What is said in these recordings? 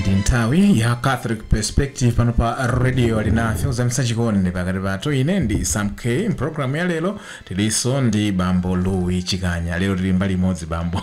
ndi nthawi ya catholic perspective pano pa radio alinafe kuzamitsa chikondi pakati pathu ine ndi sam k mu pulogalamu ya lero tilinso ndi bambo louis chikanya lero tili mbali imodzi bambo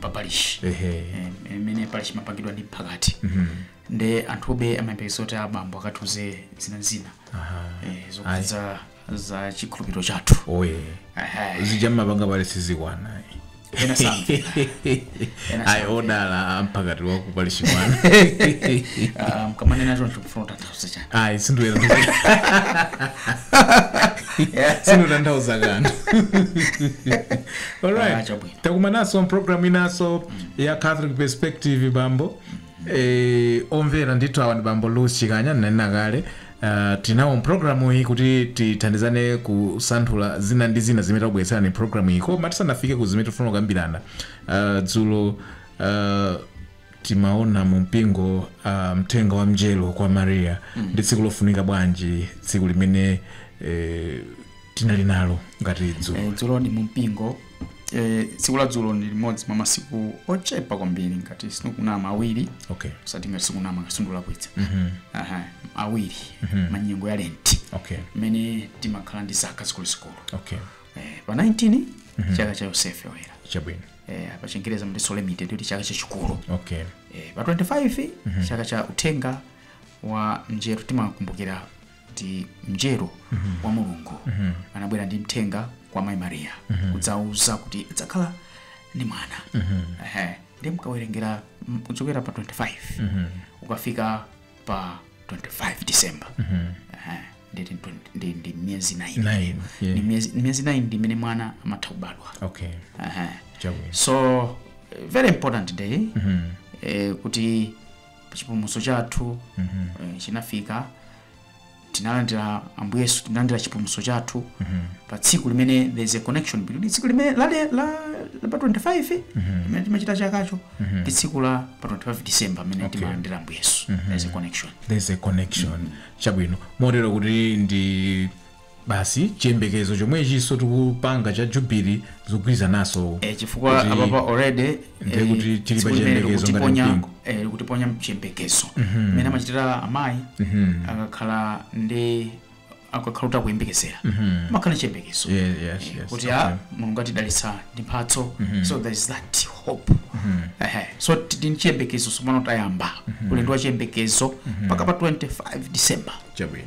pa parish ehe Eh, imene parish imapangidwa ndi mphakati Mhm. nde anthube amayembekezera kuti abambo akatiuze zina zina aha eh, zokhudza za chikhulupiriro chathu oye Ehe. zija mmapanga paguwa sizikwana Ena samvera. Ena ayi odala amphakati wa ku parish mwanga Ah, mkamanena choncho mfuna kutanthauza chani ayi sinduyera sindikutanthauza kanthu Ah, alright chabwino takumananso mpulogalamu inanso ya catholic perspective bambo eh, omvera ndithu awa ndi bambo louis chikanya ndinanena kale Uh, tinawo mpulogalamu iyi kuti tithandizane kusanthula zina ndi zina zimene takubweretserani mpulogalamu iyi koma tisanafike ku zimene tifuna kukambirana uh, dzulo uh, timaona mu mpingo uh, mthenga wa mnjelo kwa maria ndi tsiku lofunika bwanji tsiku limeneli eh, tinali nalo ngati dzulo Eh, dzulo ndi mumpingo eh, tsiku la dzulo ndi limodzi mwa masiku ochepa kwambiri ngati sindikunama awiri okay osati ngati sindikunama ngati sindikulakwitsa Mhm. Aha, awiri munyengo ya lenti okay mmene timakhala ndi zaka zikuluzikulu okay eh, pa 19 chaka cha yosefe oyera chabwino eh, pa chingereza amati solemnity kuti chaka chachikulu okay eh, pa 25 chaka cha uthenga wa mnjelo timakumbukira kuti mnjelo wa mulungu anabwera ndi mthenga kwa mayi mariya kudzawauza kuti adzakhala ndi mwana Ehe. ndiye mkawerengera m- kuchokera pa 25 ukafika pa 25 december Ehe. Ndi- ndi- ndi- ndi miyezi 9 Nine, yeah. ndi miyezi ndi miyezi 9 ndi imene mwana amatha kubadwa okay Ehe. chabwino so eh, very important day eh, kuti chipulumutso chathu eh, chinafika tinalandira ambuye yesu tinalandira chipulumutso chathu pa tsiku limeneli there is a connection between tsiku limene la, la, la, la pa 25 limene timachita chakacho ndi tsiku la pa 25 december pamene Okay. timalandira ambuye yesu there is a connection there's a connection chabwino motero kuti ndi basi chiyembekezo chomwechinso tikupanga cha jubili zikugwirizananso e, chifukwa kuti- apapa already ndiye kuti tili pa chiyembekezo ngati mpingo. likutiponya mchiyembekezo mmene amachitira amayi akakhala ndi akakhala kuti akuyembekezera mumakhala chiyembekezo Yeah, yes, yes, kuti okay. a mulungu atidalitsa ndi mphatso so there is that hope Ehe. so tili ndi chiyembekezo sopano tayamba ulendo wa chiyembekezo mpaka pa 25 december chabwino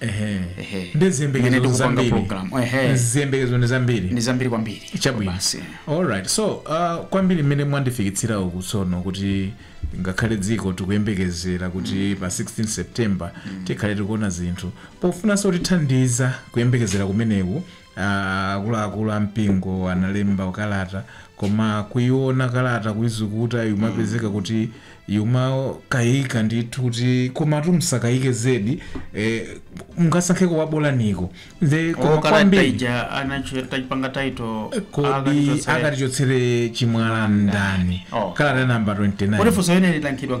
Ehe. Ehe. ndi Imene ziyembekezo tikupanga zambiri program. Ehe. ziyembekezo ndi zambiri ndi zambiri kwambiri chabwino Basi. alright so uh, kwambiri mmene mwandifikitsira uku tsono kuti ngakhale dziko tikuyembekezera kuti pa 16 september tikhale tikuona zinthu pofunanso kutithandiza kuyembekezera kumeneku Akuluakulu a mpingo analemba kalata koma kuiona kalata kuizukuta umapezeka kuti umakaika ndithu kuti komatu musakaike zedi eh, mngasankheko wabolaniko the koma okalata kwambiri ija anacho- taipanga title kodi akatichotsera akatichotsere chimwala ndani Oh. kalata namba 29 kodi funso imene liyankhidwa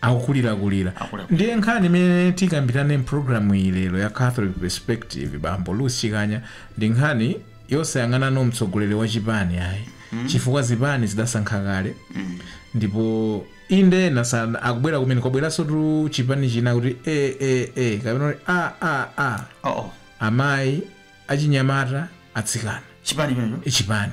akukulirakulira. Akukulirakulira. Ndiye nkhani imene tikambirane m'programu iyi lero ya Catholic Perspective, bambo Louis Chikanya, ndi nkhani yosayang'anano mtsogoleri wa chipani ayi chifukwa zipani zidasankha kale ndipo inde ena pano akubwera kumene kwabweransotu chipani china kuti e e e kapena kuti a a a Oh, oh. amayi achinyamata atsikana chipani chimenecho chipani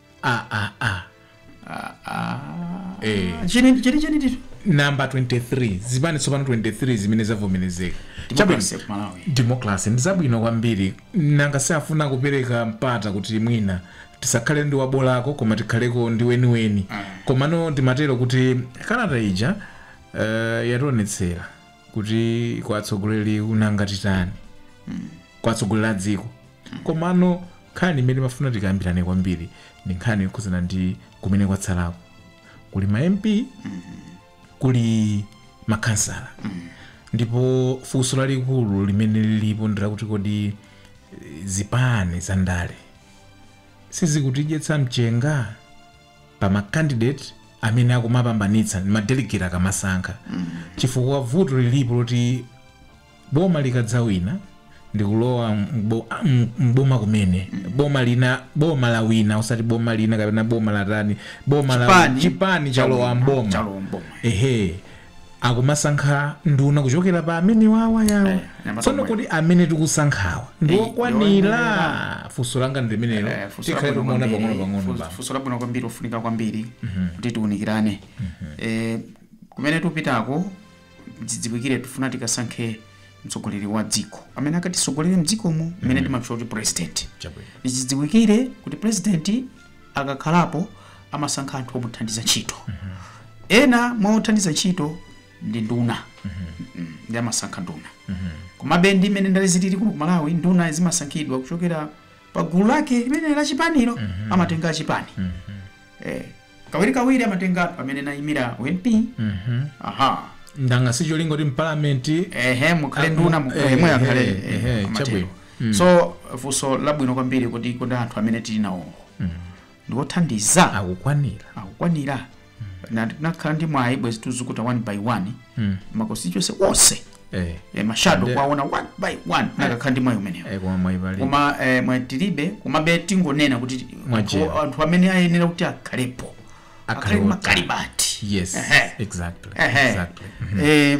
ah, ah, ah. Eh. chini chini chini tito namba 23 zipani tsopano 23 zimene zavomerezeka Democracy ku Malawi. democracy ndi zabwino kwambiri nanga si afuna kupereka mpata kuti mwina tisakhale ndi wabolako koma tikhaleko ndi weniweni komano ndimatero kuti kalata ija uh, yationetsera kuti kwa atsogoleriwo nanga titani kwa atsogoleri a dziko komano nkhani imene ndimafuna tikambirane kwambiri ndi nkhani yokhudzana ndi kumene kwatsalako kuli ma mp kuli makhansala ndipo funso lalikulu limene lilipo ndi lakuti kodi eh, zipani za ndale sizikutidyetsa mchenga pa ma candidate amene akumapambanitsa ndi ma delegate akamasankha chifukwa vuto lilipo loti boma likadzawina ndikulowa mbo- m- mboma kumene boma lina boma lawina osati boma lina kapena boma latani boma la Chipani chipani chalowa chalowa mboma. mboma Chalowa mboma. ehe akumasankha nduna kuchokera pa amene wawayawa Eh, anyamata tsono omwe. kuti amene tikusankhawa Eh, ndiwokwanira ndiwoyenera. funso langa ndi limenelo Eh, funso tikhale labwino timuona kwambiri. pang'ono pang'ono Funso- bambo. funso labwino kwambiri ofunika kwambiri kuti tiunikirane Eh, kumene tupitako tidziwikire tifuna tikasankhe mtsogoleri wa dziko amene akatisogolere mdzikomo mmene timamutchula kuti president Chabwino. tidziwikire kuti president akakhalapo amasankha anthu omuthandiza ntchito ena mwa othandiza ntchito ndi nduna Mm, ndi amasankha nduna komabe ndi mmene ndale zilili kuno ku malawi nduna zimasankhidwa kuchokera pa gulu lake limene la chipanilo amatenga achipani eh, kawirikawiri amatenga anthu amene anaimira uMP aha ndanga ndi cholinga kuti mpalamenti ehe mukhale nduna mu- eh, mwe akhale eh, amatero. chabwino mm. so funso labwino kwambiri kuti kodi anthu amene tili nawowo mm. ndiwothandiza akukwanira akukwanira Na- nakhala ndi mwayi bwezi tikuzukuta one by one Mm. makonstituency onse eh, eh, mashado Nde- kwaona one by one nakakhala ndi mwayi umenewo eh, koma mwayi ulipo koma eh, mwayi tilibe komabe tingonena kuti Mwajera. anthu- anthu amene ayenera kuti akhalepo Akhale akhale oti. makaliba ati yes Ehe. exactly Ehe. exactly Eh,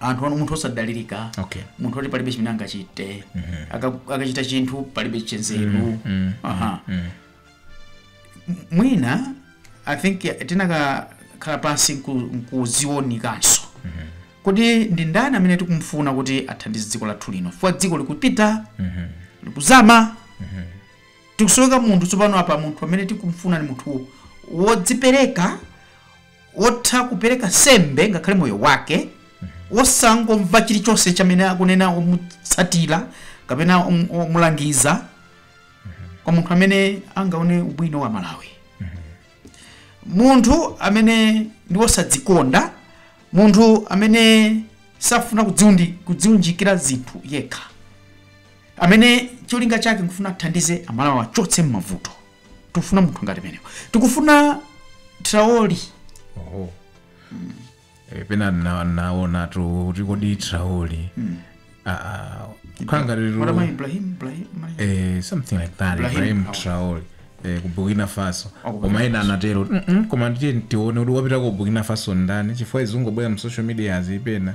anthu anu munthu osadalirika Okay. munthu oti palibe chimene angachite Aka- akachita chinthu palibe chanzeru Aha. M- mwina i think tinakakhala pansi nku- nkuziunikanso kodi ndi ndani amene tikumfuna kuti athandize dziko lathu lino chifukwa dziko likupita likuzama tikusowekera munthu tsopano apa munthu amene tikumfuna ni munthu wodzipereka wotha kupereka nsembe ngakhale moyo wake wosangomva chilichonse chamene akunena omutsatira kapena om- omulangiza koma munthu amene angaone ubwino wa malawi munthu amene ndi wosadzikonda munthu amene safuna kudziundi- kudziunjikira zinthu yekha amene cholinga chake nkufuna athandize amalawi achotse m'mavuto tikufuna munthu ngati ameneyo tikufuna Traore oho Eh, pena na- naona tu kuti kodi Traore kukhala ngati tu- matama ibrahim ibrahim eh, something like that Ibrahim ibrahim Traore. Traore eh, ku burkina faso Ah, ku koma ena anatero "Mm-mm, koma ndiye tione kuti wapita ku burkina faso ndani chifukwa zikungobwera mu social media kapena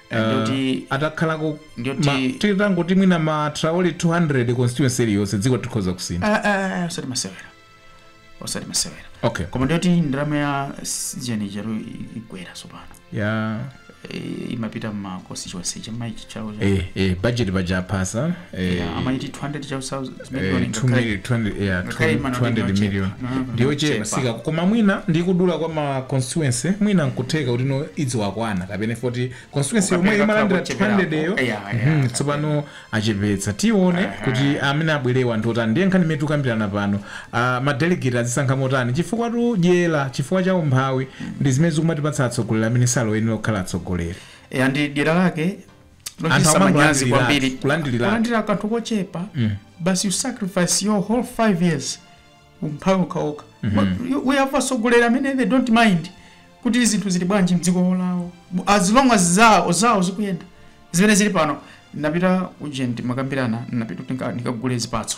Ndoti- uh, atakhalako Ndoti- ma- titangoti mwina ma Traore 200 constituency iliyonse dziko tikhoza kusintha Ah, ah, ah, osati masewera osati masewera okay koma ndiyoti ndalama ya ujeni chero ibwera tsopano ya Eh, imapita mma constituency chamayi chichawo eh, eh, budget paja aphasa Eh, Yeah, amati 200 thousand eh, million 2 ngakhale- million- 200 yeah, ngakhale inali 200 ndiyo million chepa. No, no, ndiyo no, chepa. chepa koma mwina ndi kudula kwa ma constituency mwina nkutheka kuti no idziwakwana kapena poti constituency yomwe Ukapeleka imalandira kucheperapo. 200 yo Yeah, yeah, Mhm, yeah. tsopano achepetsa tione kuti amene abwerewa ndi otani ndiye nkhani imene tikukambirana pano ah, madelegate azisankha motani chifukwa cha dyera chifukwa cha umphawi ndi zimene zikumatipatsa atsogoleri amene sali oyenera kukhala atsogoleri Eh, ndi dyera lake Not anthu just amanyazi amangolandira- kwambiri kulandira kanthu kochepa Mm. but you sacrifice your whole five years umphawi okhaokha we have atsogoleri amene they don't mind kuti zinthu zili bwanji mdziko lawo as long as zawo zawo zikuyenda zimene zili pano napita ujeni mwakambirana napita kuti nika- nikagule zipatso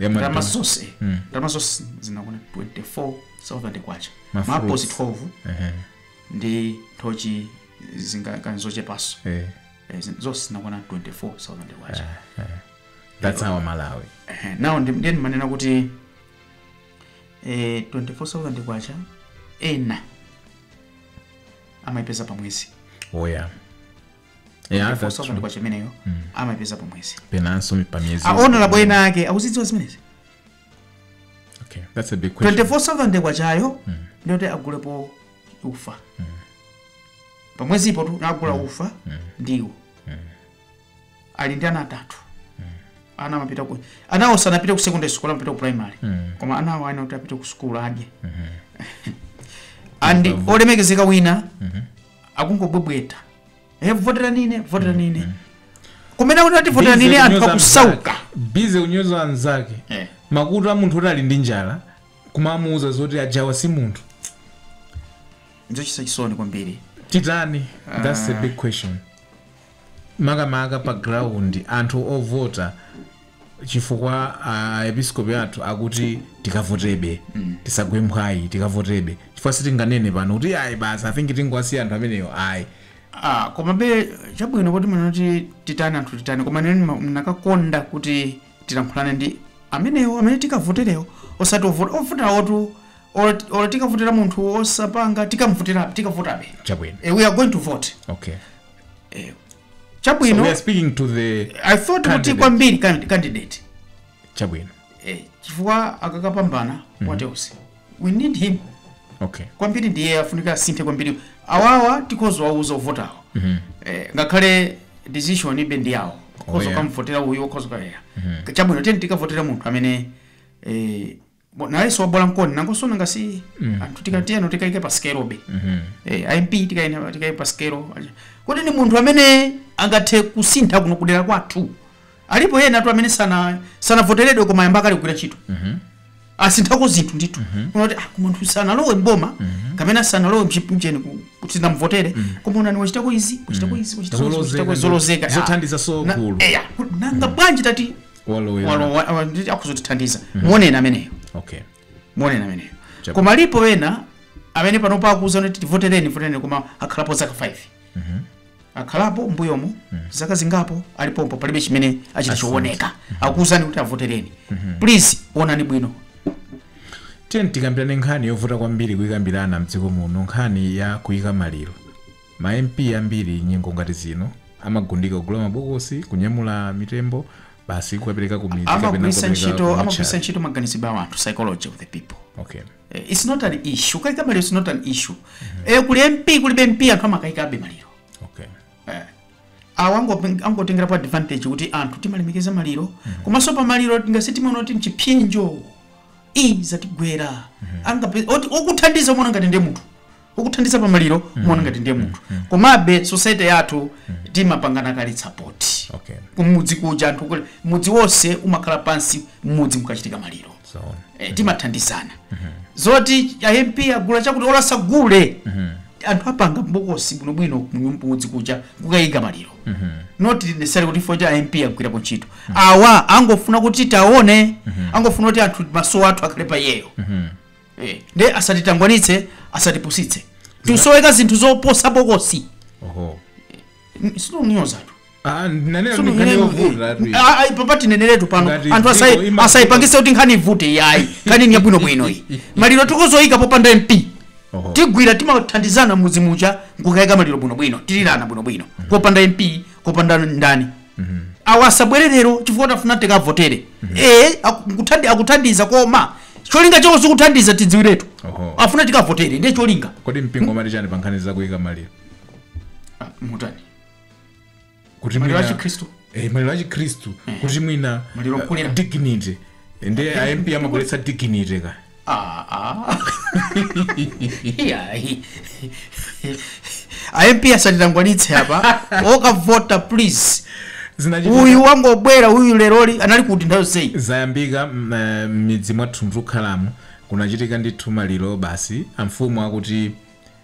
Yamadu. ndalama zonse ndalama zonse zinakwana 24000 kwacha Ma maapozi fruits. 12 Ehe, ndi nthochi zingakani zochepanso eh. Eh, zin- zonse zinakwana 24000 kwacha that's our malawi Ehe, now ndi- ndiye ndimanena kuti eh, 24000 kwacha ena amayipeza pa mwezi eya Eh, that's ndipo true. mu ndi kwacha imeneyo amapeza pamwezi penanso pa miyezi a honourable ena ake akuzidziwa zimenezi okay that's a big question 24000 kwachayo ndiyoti agulepo ufa pamwezipotu agula ufa ndiwo ali ndi ana atatu ana amapita ku anawo sanapite ku secondary school amapita ku primary koma anawo ayenera kuti apite ku school adye and olemekezeka wina akungobwebweta e voterani ine voterani ine kumene akuti ati voterani ine anthu akusauka busy kunyoza anzake Eh. makutu a munthu oti ali ndi njala kumamuuza zoti ajawa si munthu nzochititsa chisoni kwambiri titani thats the big question makamaka pa ground anthu ovota chifukwa a episkopi athu akuti tikavotebe tisagwe mphwayi tikavotebe chifukwa sitinganene pano kuti ayi basi i think tingowasiya anthu amenewo ayi Ah, komabe chabwino kuti mwina kuti titani anthu titani koma ine ndinakakonda kuti tilankhulane ndi amenewo amene tikavoterewo osati ovota ovoterawotu or, or tikavotera munthu osapanga tikamvotere tikavotabe chabwino Eh, we are going to vote okay eh, chabwino we are speaking to the i thought kuti Candidate. kwambiri can- candidate chabwino eh, chifukwa akakapambana what else we need him okay kwambiri ndiye afunika asinthe kwambiri awawa tikhoza kuwauza ovotawo eh, ngakhale decision ibe ndi yawo ukhoza yeah. kukamvotera uyu ukhoza kukayesa chabwino tiyeni tikavotere munthu amene eh, Bo- nayenso wabwera ndiye nangonso nanga si Mm. anthu tikatiyeno tikaike pa sikelo be Mhm. eh, amp tikaine- tikaike pa sikelo kodi ni munthu amene angathe kusintha kuno kudera kwathu alipo ena tu amene sana sanavoteredwe koma ayamba kale kugwira ntchito Mhm. asinthako zinthu ndithu umati ah, koma munthu sanalowe mboma kapena sanalowe mu kampeni ku- kuti timuvotere koma onani wachitako izi wachitako izi wachitako izi, Zolozeka wachitako izi, ndi- zolozeka Ah. zothandiza so Na- gulu. eya, ku- nanga bwanji tati Walowera. walowa wa- ndi- akhoza kutithandiza muoneni ameneyo okay muoneni ameneyo Chabu- koma alipo ena amene panopa akuuza kuti tivotereni votereni koma akhalapo zaka 5 akhalapo mbuyomo zaka zingapo ali pompo palibe chimene achita chooneka akuuzani kuti tivotereni please onani bwino tiyeni tikambirane nkhani yovuta kwambiri kuyikambirana mdziko muno nkhani ya kuyika maliro Ma MP ambiri nyengo ngati zino amagundika kugula mabokosi, kunyamula mitembo, basi kukapereka ku midzi kapena amagwiritsa kukapereka ntchito ku amagwiritsa matchali. ntchito maganizidwe a anthu psychology of the people Okay. Eh, it's not an issue kuyika maliro it's not an issue eh, kuli mp kulibe mp anthu amakayikabe maliro Okay. eh. awo ango- angotengerapo advantage kuti anthu timalemekeza maliro komanso pa maliro tingasi timaona kuti ndi chipsinjo ichi chatigwera Angape- oti- okuthandiza umaona ngati ndi munthu okuthandiza pa maliro umaona ngati ndiye munthu komabe society yathu timapangana kale support Okay. kumudzi kuja anthu kule mudzi wonse umakhala pansi mmudzi mukachitika maliro So, eh, timathandizana zoti a mp agula chakuti olo asagule anthu apanga bokosi bwinobwino kumudzi kuja kukayika maliro not necessary kuti poti a mp agwirapo ntchito awa angofuna kuti tiwaone angofuna kuti anthu maso athu akhale pa iyeyo Eh, ndiye asatitangwanitse asatipusitse tusoweka zinthu zoposa bokosi oho N- sindikunyozatu ah nanena Sunu- nkhani yovutatu iyi. Ah, ah, apapa tineneretu pano Ngati anthu dziko asai- ima- asaipangise kuti nkhani ivute iyayi nkhani ni yabwinobwino iyi maliro tikhoza kuyika popanda mp Oho. tigwira timathandizana mmudzimuja nkukayika maliro bwinobwino tilirana bwinobwino popanda mp popanda ndani awo asabwere lero chifukwa choti afuna tikawavotere ee aku- nkuthandi- akuthandiza koma cholinga chawo sikuthandiza tidziwiretu Oho. afuna tikawavotere ndiye cholinga kodi mpingo umati chani pa nkhani zakuyika maliro Ah, mutani kuti maliro mwina- achikhristu Eh, maliro achikhristu kuti mwina Maliro eh, okulira. dignity ndiye a mp amabweretsa dignity ka Ah, ah. Iyayi. a mp asatitangwanitse apa okavota please zinachitika uyu wangobwera uyu leroli anali kuti nthawi yonseyi zayambika mm, eh, m'midzi mwathu mom tukhalamo kunachitika ndithu maliro basi amfumu akuti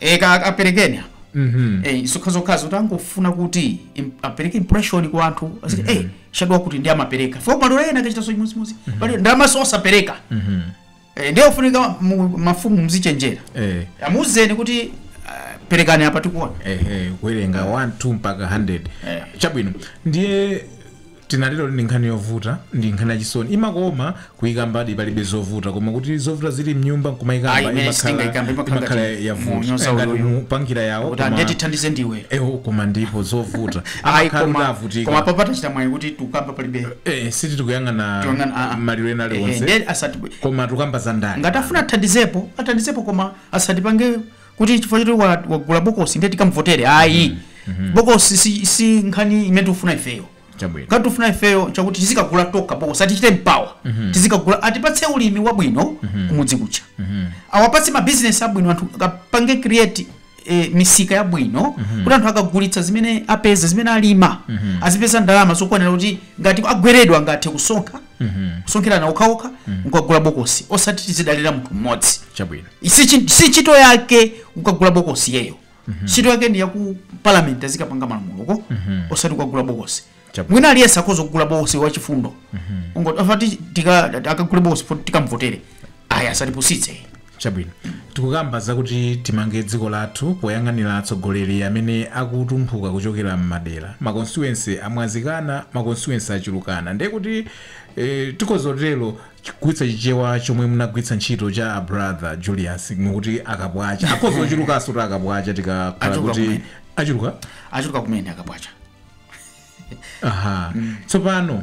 e, ka- kaperekeni apa Mhm. Eh, zokhazokhazo tangofuna kuti im- apereke impression kwa anthu ayiti eh shadow kuti ndi amapereka fo malo ena akachitanso chimodzimodzi pali ndamaso osapereka Mhm. eh, ndiye ofunika mu- mafumu mzichenjera Eh. amuzeni kuti ah, perekani apa tikuona ehe kuwerenga 1 2 mpaka 100 Eh. chabwino ndiye Tinatero ndi nkhani yovuta ndi nkhani yachisoni imakoma kuikambadi palibe zovuta koma kuti zovuta zili mnyumba nkumaikamba Ayi, imene imakhala sitingaikambe, imakhala imakhala ngati yavuta munyoza ngati ululu. mupangira yawo kuti koma- andetithandize ndiwe ewo koma ndipo zovuta ayi amakhala kuti koma koma avutika papa tachita mwayi kuti tukamba palibe Eh, si tikuyang'ana Tikuyang'ana, ah, ah. maliro ena Eh, eh, aliwonse ndiye osati koma tukamba za ndani ngati afuna athandizepo athandizepo koma asatipange kuti chifukwa choti wa- wagula bokosi ndiye tikamvotere ayi bokosi si, si nkhani imene tikufuna ifeyo chabwino ngati tikufuna ifeyo chakuti tizikagula tokha bokosi atichite empower tizikagula, atipatse ulimi wabwino kumudzi kuja awapatse mabizinesi abwino anthu apange create eh, misika yabwino kuti anthu akagulitsa zimene apeza zimene alima azipeza ndalama zokwanira kuti ngati agweredwa angathe kusonkha kusonkhirana okhaokha nkukagula bokosi osati tizidalira munthu mmodzi chabwino si chi- si ntchito yake kukagula bokosi iyeyo ntchito yake ndi yaku parliament azikapanga malamuloko osati kukagula bokosi Chabwino. mwina aliyense akhoza kugula bokosi wachifundo ungoti osati akagule bokosi fo- tikamvotere ayi asatipusitse chabwino tikukamba zakuti timange dziko lathu poyang'anira atsogoleri amene akutumphuka kuchokera m'madera makonstituensi amwazikana makonstituensi achulukana ndiye kuti eh, tikhoza kutero kugwiritsa chichewa chomwe munagwiritsa ntchito cha a brother julius mukuti akapwacha akhoza kuchulukanso kuti akapwacha tikakhala Achuluka kuti kumene. achuluka achuluka kumene akapwacha aha tsopano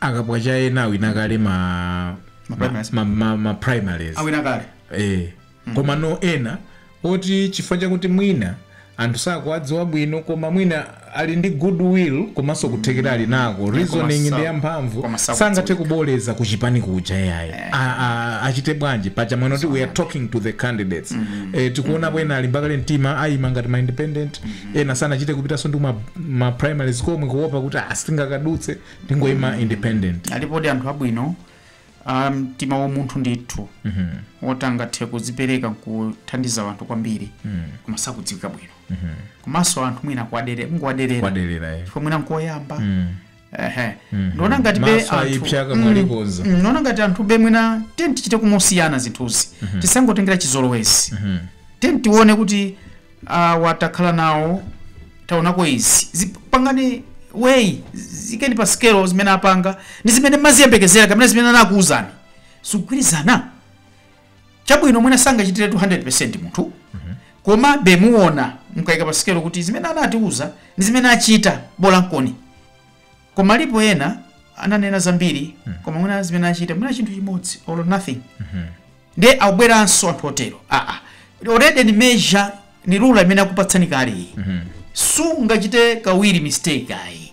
akapwacha ena awina kale ma Ma primaries. ma, ma, ma primaries awina kale eh. komano ena oti chifukwa chakuti mwina anthu sakuwadziwa bwino koma mwina ali ndi goodwill komanso kuthekera ali nako reasoning sa- ndi yamphamvu koma sakudziwika. sangathe kuboleza kuchipani kuja yayi A- a- achite bwanji paja mwina kuti we are talking to the candidates eh, tikuonapo ena alimba kale mtima ayima ngati ma independent ena sanachite kupitanso ndi kuma- ma primaries komwe kuopa kuti ah, sindingakadutse ndingoima independent alipodi anthu abwino a mtima wa umunthu ndithu woti angathe kuzipereka nkuthandiza anthu kwambiri koma sakudziwika bwino komanso anthu mwina kuwaderera kungowaderera kuwaderera eh. chifukwa mwina nkoyamba ehe Mhm. ndiona ngati be Maso anthu- ayipsa kama Mm, alikonza. mm, ndiona ngati anthu be mwina tiyeni tichite umosiyana zinthuzi Mhm. tisangotengera chizolowezi Mhm. tiyeni tione kuti ah, watakhala nawo taonako izi zipangeni weigh ziikeni pa sikelo zimene apanga ndi zimene mumaziyembekezera kapena zimene anakuwuzani zikugwirizana chabwino mwina sangachitire 200 percent munthu komabe muona mukaika pa sikelo kuti zimene anatiuza ndi zimene achita bola nkoni koma alipo ena ananena zambiri koma mwina zimene achita mwina chinthu chimodzi or nothing ndiye abweranso anthu otero aa already ni measure ni rula imene akupatsani kale iyi sungachite kawiri mistake ayi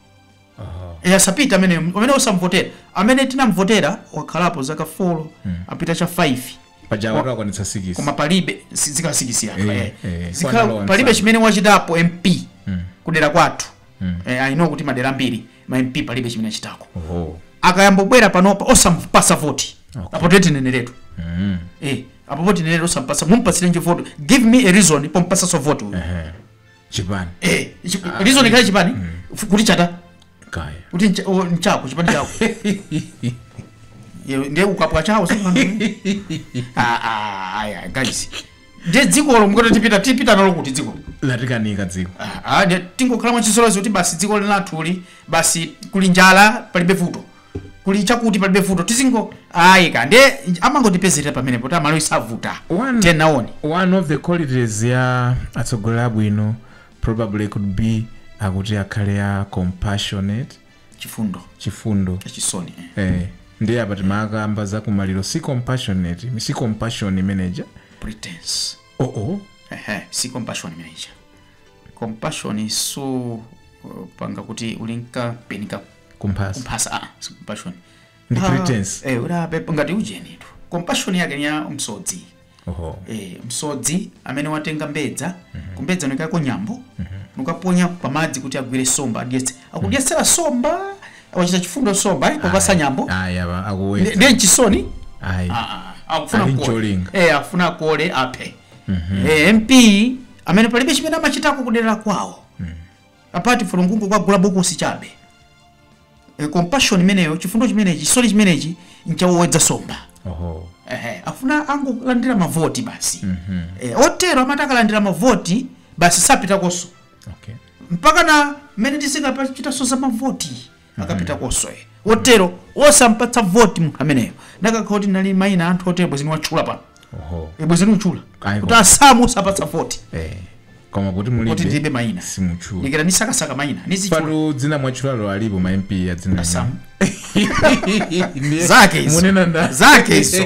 eya asapita amene amene osamvotera amene tinamvotera wakhalapo zaka 4 apita cha 5 paja watu akwanitsa sikisi koma palibe si- zikasikisira Eh, eh. eh, Zika- kwanalowa palibe msanga. chimene wachitapo mp kudera kwathu eh, i know kuti madera ambiri ma mp palibe chimene achitako oho akayambobwera panopa osampasa voti Okay. apo tetineneretu Mm. eh, apo voti neneretu osampatsa mumpatsirenji voti give me a reason pompatsaso voti uyu Ehe. chipani eh ichi- reason ikhale chipani F- kuti chata kuti ncha- o, nchako chipani chako Ye- ndiye ukapha chawo aya guys ndiye dzikolo mukoti tipita tipita nalo kuti dzikolo latikanika dziko Ah, ah, ndiye tingokhala mwachisolosi kuti basi dziko linathuli basi kuli njala palibe vuto kuli chakuti palibe vuto tizingo ayi ka nde amangotipezerera pamenepo tiamalo isavuta One- tenaoni one of the qualities ya atsogoleri abwino probably could be akuti akhale a compassionate chifundo chifundo chisoni eh. eh, ndiye apa timakamba za kumaliro si compassionate si compassion imeneija pretense oh oh Ehe, si compassion imeneija compassion so uh, panga kuti ulinka penika kumphasa kumphasa ah, si compassion Ndi Ah, pretense. eh, ura pepa ngati ujenitu compassion yake ni ya msodzi oho eh, msodzi amene watenga mbedza kumbedzako nkuikako nyambo nukaponya pamadzi kuti agwire nsomba adyetse akudyetsera nsomba wachita chifundo nsomba ayi popatsa nyambo ayi apa Ndi- akuweta ndiye nchisoni ayi Ah, ah, akufuna Ali kuole. ncholinga. Eh, akufuna akuole aphe Eh, mp amene palibe chimene amachitako kudera kwawo apart from kungokagula bokosi chabe e, compassion imeneyo chifundo chimenechi chisoni chimenechi ncha owedza nsomba oho Ehe, afuna angolandira mavoti basi e, otero amati akalandira mavoti basi sapitakonso okay mpaka na mmene tizikachitaso za mavoti akapitakoso otero osampatsa voti munthu ameneyo ndikanakhala kuti ndili maina anthu otero bwenzi nawatchula pano oho e bwenzi mutchula Ayi, kuti koma- asamu osapatsa voti eh koma kuti kuti mulibe ndilibe maina simuchula ndikira ndisakasaka maina nizichula pano dzina mwatchulalo alipo ma mp ya dzina Asamu. Ndiye Zake izo. munena nda zake izo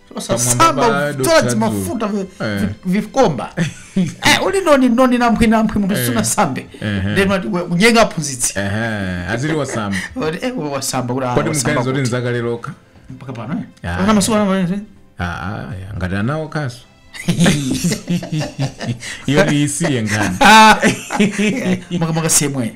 osasamba Pamwamba kudzola po timafuta vi- Eh. vi- vikomba Eh, uli noni noni namphi namphi munthu sunasambe Ehe. ndeno ati kunyenga aphunzitsi Ehe, azili wasamba Oti, eh, we wasamba kuti ah, kodi wasamba mganizo kuti kuti. nzakale lokha mpaka pano eh? Ah. Mpaka masiku ano pano, eh? Ah, ah, ya, ngati anawo kaso iyo isiye ngani Ah. Maka- maka semwe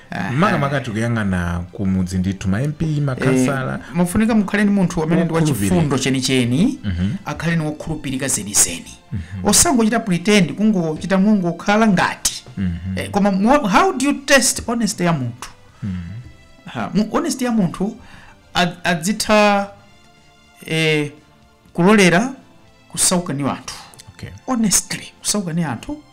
Aha. makamaka tikuyang'ana ku mudzi ndithu ma mp makhansala Eh, mafunika mukhale ndi munthu amene ndi wokhulupirika wachifundo chenicheni akhale ni wokhulupirika zenizeni osangochita pretend kungochita mongokhala ngati eh, koma mo- how do you test honesty ya munthu Ha, mu- honesty ya munthu ad- adzitha eh, kulolera kusauka ni anthu okay. honestly kusauka ni anthu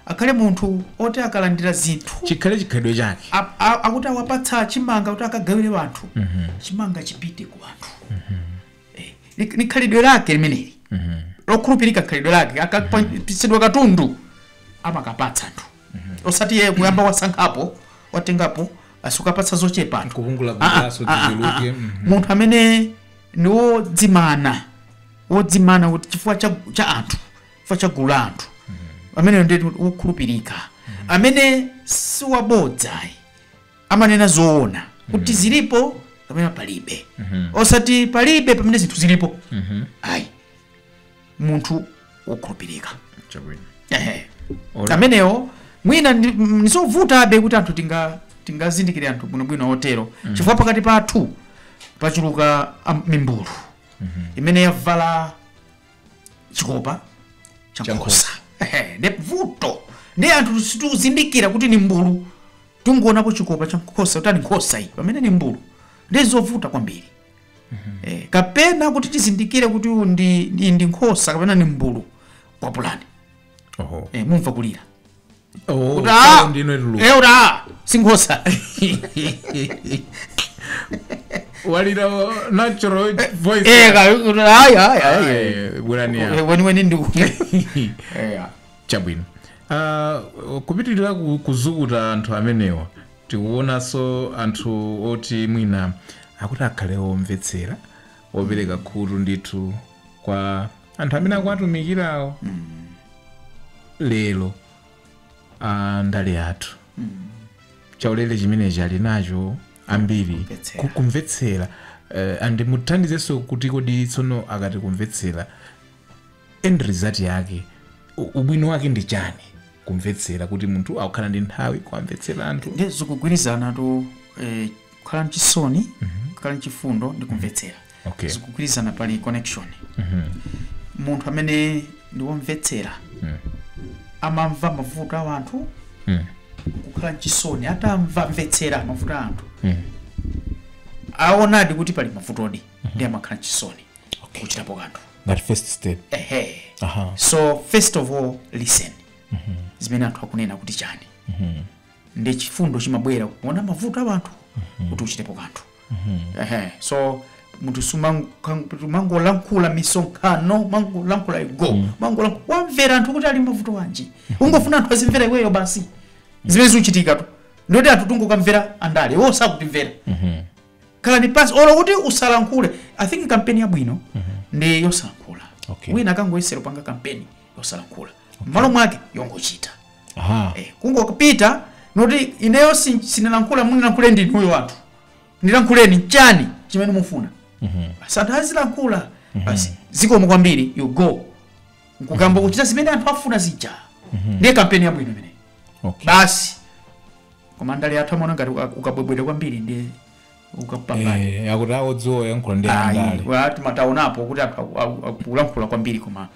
Akhale munthu oti akalandira zinthu. Chikhale chikhalidwe chake. Akuti awapatsa chimanga kuti akagawire anthu. Chimanga chipite kwa anthu. Ni khalidwe lake limeneli. Lokhulupirika khalidwe lake. Akapatsidwa katundu amakapatsa anthu. Osati yeye kuyamba wasankhapo, watengapo, basi ukapatsa zochepa anthu. Kuvungula vungulaso tiziluke. Mhm. Munthu amene ni wodzimana, wodzimana kuti chifukwa cha, cha anthu. chifukwa cha gulu la anthu ameneyo ndi wokhulupirika amene si wabodza ayi amanena zoona kuti zilipo kapena palibe osati palibe pamene zinthu zilipo ayi munthu wokhulupirika chabwino Ehe. Ora. amenewo mwina ndi- m- nizovutabe kuti anthu tinga tingazindikire anthu bwinobwino otero chifukwa pakati pathu pachuluka am- mimbulu imene yavala chikopa cha Cha nkhosa Ehe, ndi vuto ndi anthu situzindikira kuti ni mbulu tikungoonapo chikopa cha nkhosa kuti ndi nkhosa iyi pamene ni mbulu ndi zovuta kwambiri eh, kapena kuti tizindikire kuti uyu ndi, ndi, ndi nkhosa kapena ni mbulu kwapulani oho eh, mumva kulira Oh, Kuti, ah! oh, ndino ituluka. Eh, kuti, ah, sinkhosa walira wa- natural voice Eh, ka- kuti, ayi, ayi, ayi. Eh, bwerani apa. Eh, weniweni ndi Eh, ah. chabwino Ah, kupitirira ku- kuzukuta anthu amenewa tikuonanso anthu oti mwina akuti akhale omvetsera opereka khutu ndithu kwa anthu amene akuwatumikirawo lero a ndale yathu khalidwe chimenechi ali nacho ambiri Kumvetsera. ku- kumvetsera eh, and muthandizenso kuti kodi tsono akati kumvetsera end result yake u- ubwino wake ndi chani kumvetsera kuti munthu akukhala ndi nthawi kuwamvetsera anthu ndi zogwirizanatu eh, kukhala ndi chisoni kukhala ndi chifundo ndi kumvetsera okay zikugwirizana pali connection Mhm. munthu amene ndi womvetsera Mm. amamva mavuto a anthu Mm. kukhala mchisoni atamva mvetsera mavuto a anthu Mm. aonadi kuti pali mavutodi ndi amakhala mchisoni okay kuchitapo kanthu ngati first step ehe aha so first of all listen zimene anthu akunena kuti chani ndi chifundo chimabwera kuona mavuto a anthu kuti uchitepo kanthu Ehe, so munthu umangolankhula misonkhano mangolankhula igo mangolankhula wamvera anthu kuti ali mavuto wanji ungofuna anthu azimvera iweyo basi zimene zikuchitikatu ndi zoti anthu tungokamvera andale iwo sakutimvera khalani pansi olo kuti usalankhule i think kampeni yabwino ndi yosalankhula Okay. wina akangoyesera panga kampeni yosalankhula mmalo mwake yongochita aha Eh, kungopita nkuti ineyo sin- sinilankhula munilankhule ndi inuyo anthu ndilankhuleni chani chimene mufuna basi anthu azilankhula basi zikomo kwambiri you go nkukayamba kuchita zimene anthu afuna zija ndiye kampeni yabwino imeneyi okay basi koma ndale athu amaona ngati uka- ukabwebweta kwambiri ndiye ukapambana Eh, akuti awodziwa kuyankhula ndi Ayi, andale wa- tuma- taonapo kuti aku- aku- aku- akulankhula kwambiri koma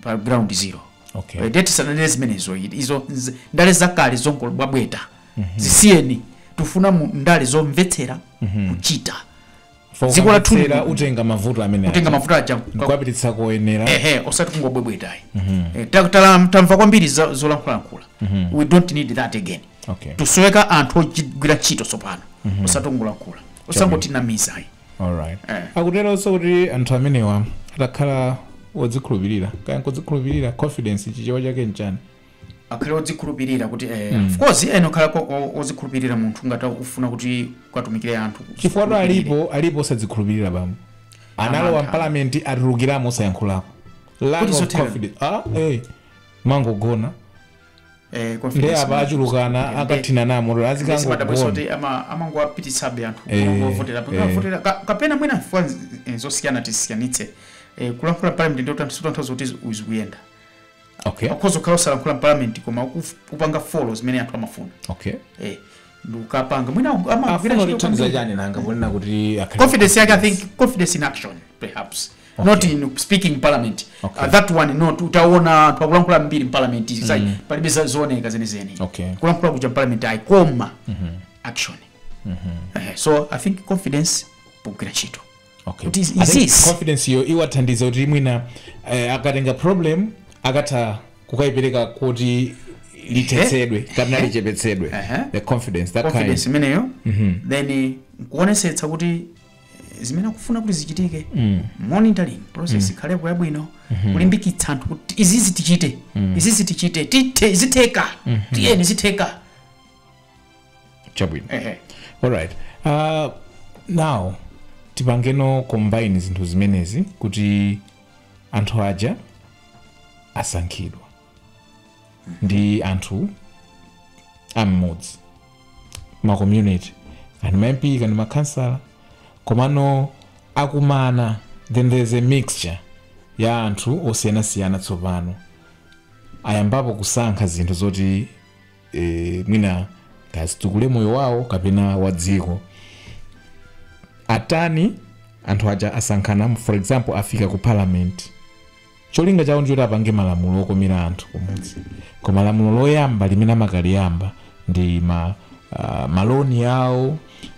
pa ground zero Okay. Eh, eti sananene zimenezo i- izo nz- ndale zakale zongobwebweta zisiyeni tufuna mu ndale zomvetsera kuchita dziko lathu Fokamvetsera lino- utenga mavuto amene kutenga mavuto aja ndikuwapititsa koyenera ehe osati kungobwebwetayi Eh, ta- tala- tamva kwambiri za- zolankhulalankhula we don't need that again okay tikusoweka anthu ogwira ntchito tsopano osati ongolankhula osangotinamiza ayi alright Eh. akuteronso kuti anthu amenewa atakhala odzikhulupirira kaya nkudzikhulupirira confidence chichewa chake nchani akhale odzikhulupirira kuti eh, of course inde kukhala ko- o- odzikhulupirira munthu ngati ufuna kuti ukatumikire anthu chifukwatu alipo alipo osadzikhulupirira pomwe analowa Amantha. mpalamenti atulukiramo osayankhulako lack Kuti of zotero. confidence ah eh mangogona eh, confidence ndiye apa management. achulukana Ndiye- akathina namo ndiye azikangogona zimadabwitsa kuti amangowapititsabe anthu Eh, kulovotera eh. avotera kapena mwina chifukwa nz- eh, zosiyana tisiyanitse Eh, kulankhula mparliament ndiyo tantu- tanthauza kuti uzikuyenda okay akhoza kukhala osalankhula mparliament koma ukuf- kupanga follow zimene anthu amafuna okay eh, ndikukapanga mwina aku- amagwira afuna ntchito kutithandiza kwambiri. chani nanga ponena kuti akhale- confidence yake i think confidence in action perhaps Okay. not in speaking in parliament Okay. uh, that one no taona anthu akulankhula kwambiri mparliament mm. palibe za- zooneka zenizeni Okay. kulankhula kuja mparliament ayi koma action Eh, so i think confidence pogwira ntchito Okay. Kuti is I think this- confidence yo iwathandiza kuti mwina eh, akatenga problem akatha kukayipereka kuti lithetsedwe kapena lichepetsedwe Ehe. the confidence that confidence kind imeneyo then nkuonesetsa kuti eh, zimene akufuna kuti zichitike monitoring process ikhalepo yabwino kulimbikitsa anthu kuti izizi tichite izizi tichite tithe izi zitheka tiyeni izi zitheka chabwino ehe alright uh, now tipangeno combine zinthu zimenezi kuti anthu aja asankhidwa ndi anthu am'mudzi ma community kani ma mp kani ma councillor komano akumana then there's a mixture ya anthu osiyanasiyana tsopano ayambapo kusankha zinthu zoti e, mwina kazitukule moyo wawo kapena wa dziko atani anthu aja asankhana for example afika ku parliament cholinga chawo ndichoti apange malamulo okomera anthu kumudzi koma lamulo loyamba limene amakaliyamba ndi ma, ma loan awo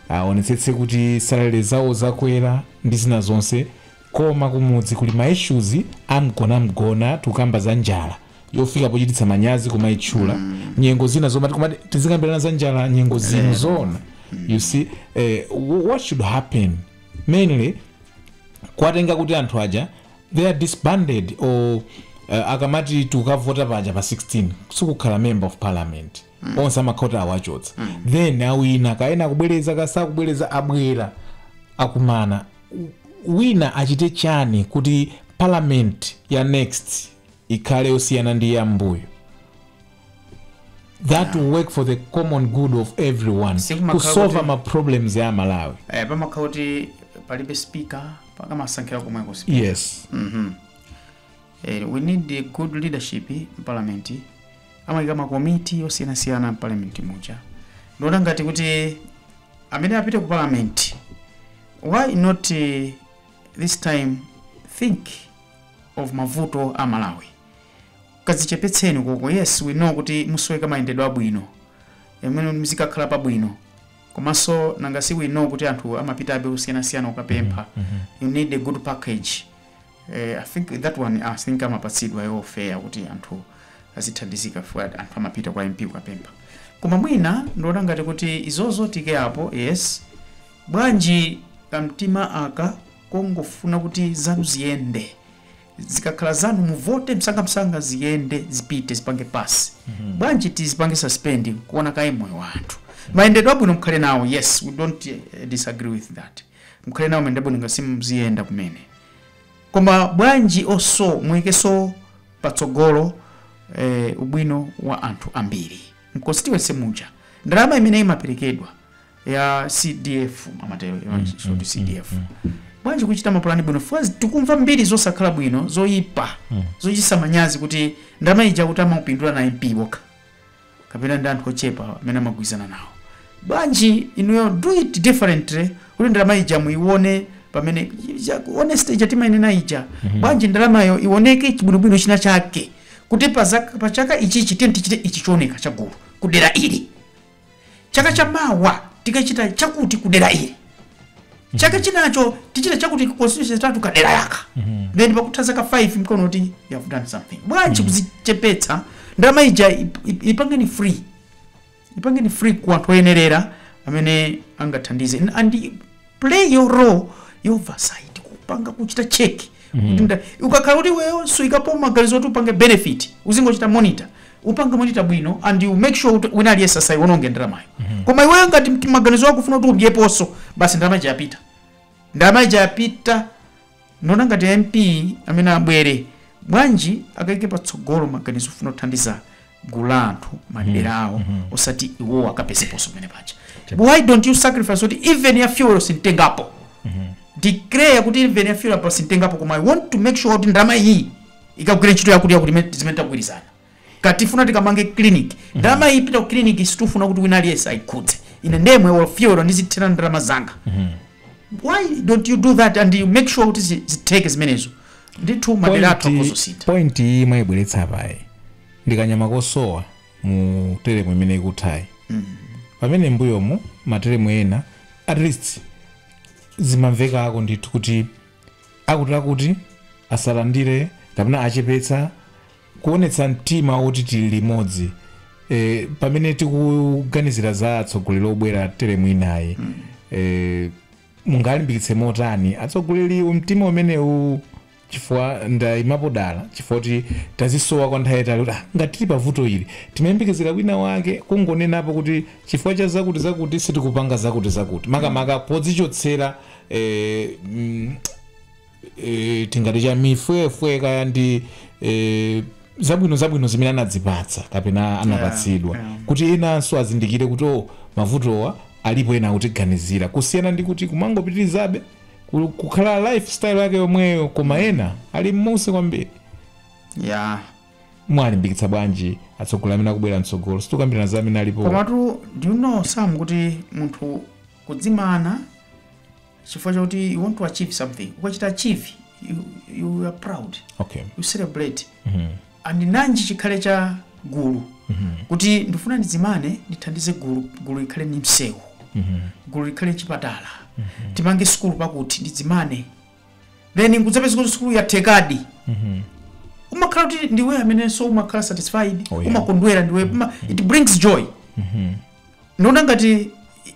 aonetsetse kuti salary zawo zakwera ndi zina zonse koma kumudzi kuli ma issues amgonamgona tikukamba za njala yofika pochititsa manyazi kumaitchula mm. nyengo zino zomati kumati tizikambirana za njala nyengo zino zoona mm. you see eh, wh- what should happen mainly kuwatenga kuti anthu aja they are disbanded or uh, akamati tikukavota paja pa 16 sikukhala member of parliament mm. onse amakhala kuti awachotsa mm. then awina kaya ena akubwereza kaya sakubwereza abwera akumana wina achite chani kuti parliament ya next ikhale yosiyana ndi yam'mbuyo that will work for the common good of everyone Sikumakhala kusova kuti- ma problems ya malawi eh, pamakhala kuti palibe speaker pakamasankhira komweko speaker yes Mhm. Eh, we need a good leadership in parliament amayika makomiti osiyanasiyana mparliament muja ndiona ngati kuti amene apite ku parliament why not eh, this time think of mavuto a malawi kadzichepetseni konko yes we know kuti muzisoweka mayendedwe abwino mmene muzikakhala pabwino komanso nanga si we know kuti anthu amapitabe osiyanasiyana ukapempha you need a good package eh, i think that one i think amapatsidwa yo fair kuti anthu azithandizika fwa anthu amapita kwa mp ukapempha koma mwina ndiona ngati kuti izozo tiike apo yes bwanji kamtima aka kongofuna kuti zanu ziyende zikakhala zanu muvote msangamsanga ziyende zipite zipange pass bwanji tizipange suspend kuona kaye moyo wa anthu mayendedwe abwino mukhale nawo yes we don't eh, disagree with that mukhale nawo mayendedwe abwino ngati simuziyenda kumene koma bwanji oso muikeso patsogolo eh, ubwino wa anthu ambiri mconstituency muja ndalama imene imaperekedwa ya cdf amatero you know, so to cdf bwanji kuchita mapulani bwino faz tikumva mbiri zosakhala bwino zoyipa zochititsa manyazi kuti ndalama ija akuti amangopindula na mp wokha kapena ndi anthu ochepa amene amagwirizana nawo bwanji inuyo do it differently kuti ndalama ija muike pamene ja- honestly ija timayenera ija bwanji ndalamayo ioneke chibwinobwino china chake kuti pa zaka- pa chaka ichichi tiye tichite ichi chooneka chagulu kudera ili chaka cha mawa tikachita chakuti kudera ili chaka chinacho tichita chakuti constituency itha kudera lake then pakutha zaka 5 mkuona kuti you have done something bwanji kuzichepetsa ndalama ija ip- ip- ipangeni free ipangeni free ku anthu oyenerera amene angathandize and, and play your role your oversight kupanga kuchita check Kuti nda- ukakhala kuti iweyo suikapo maganizo kuti upange benefit uzingochita monitor upanga monitor bwino and you make sure kuti wina aliyense asaiwononge ndalamayo koma iweyo ngati mti- maganizo ako ufuna kuti udyeponso basi ndalama ija yapita ndalama ija yapita nde ngati mp amene abwere bwanji akaike patsogolo maganizo ofuna kuthandiza gulu la anthu madera awo osati iwowo akapezeponso pamene paja why don't you sacrifice kuti even ya fuel sintengapo declare kuti even ya fuel apa sintengapo koma i want to make sure kuti ndalama iyi ikagwire ntchito yakutiyakuti imene- zimene tagwirizana ngati tifuna tikamange clinic ndalama iyi ipita ku clinic sitifuna kuti wina aliyense ayikhudze ine ndemwe olo fuel ndizithira ndalama zanga why don't you do that and you make sure kuti zi- zitheke zimenezo ndithu madera athu akhoza kusintha point iyi mwaibweretsa apayi ndikanyama kosowa mu telemu imene ikuthayi pamene mbuyomu matelemu ena at least zimamvekako ndithu kuti akutiakuti asalandire kapena achepetse kuonetsa mtima woti tili limodzi e, pamene tikuganizira za atsogoleri obwera teremu inayo e, mungalimbikitse motani atsogoleri mtima umenewu chifukwa ndayimapo dala chifukwa choti tazisowa kwa nthawi yatali kuti "Ah, ngati tili pavuto ili timayembekezera wina wake kungonenapo kuti chifukwa cha zakuti zakuti sitikupanga zakuti zakuti makamaka podzichotsera eh, mm, eh, tingati cha mifwefwe kaya ndi eh, zabwino zabwino zimene anadzipatsa kapena anapatsidwa yeah. kuti enanso azindikire kuti o mavutowa alipo ena akutiganizira kusiyana ndi kuti kumangopitirizabe ku- kukhala lifestyle yake yomweyo koma ena ali m'munsi kwambiri ya mwalimbikitsa bwanji atsogoleri amene akubwera mtsogolo sitikukambirana za amene alipo komatu do you know sam kuti munthu Kudzimana chifukwa chakuti you want to achieve something. Ukachita achieve, you, you are proud. Okay. You celebrate. Mm -hmm. And nanji chikhale cha gulu. Mm -hmm. Kuti ndifuna ndidzimane, ndithandize gulu, gulu likhale ni msewu. Mm -hmm. Gulu likhale n'chipatala. Mm -hmm. Timange sukulu pakuti, ndidzimane. then nkudzapeza kuti sukulu yathekadi umakhala kuti ndiwe amenenso umakhala satisfied Oh, yeah. umakondwera ndiwe uma, it brings joy ndiona ngati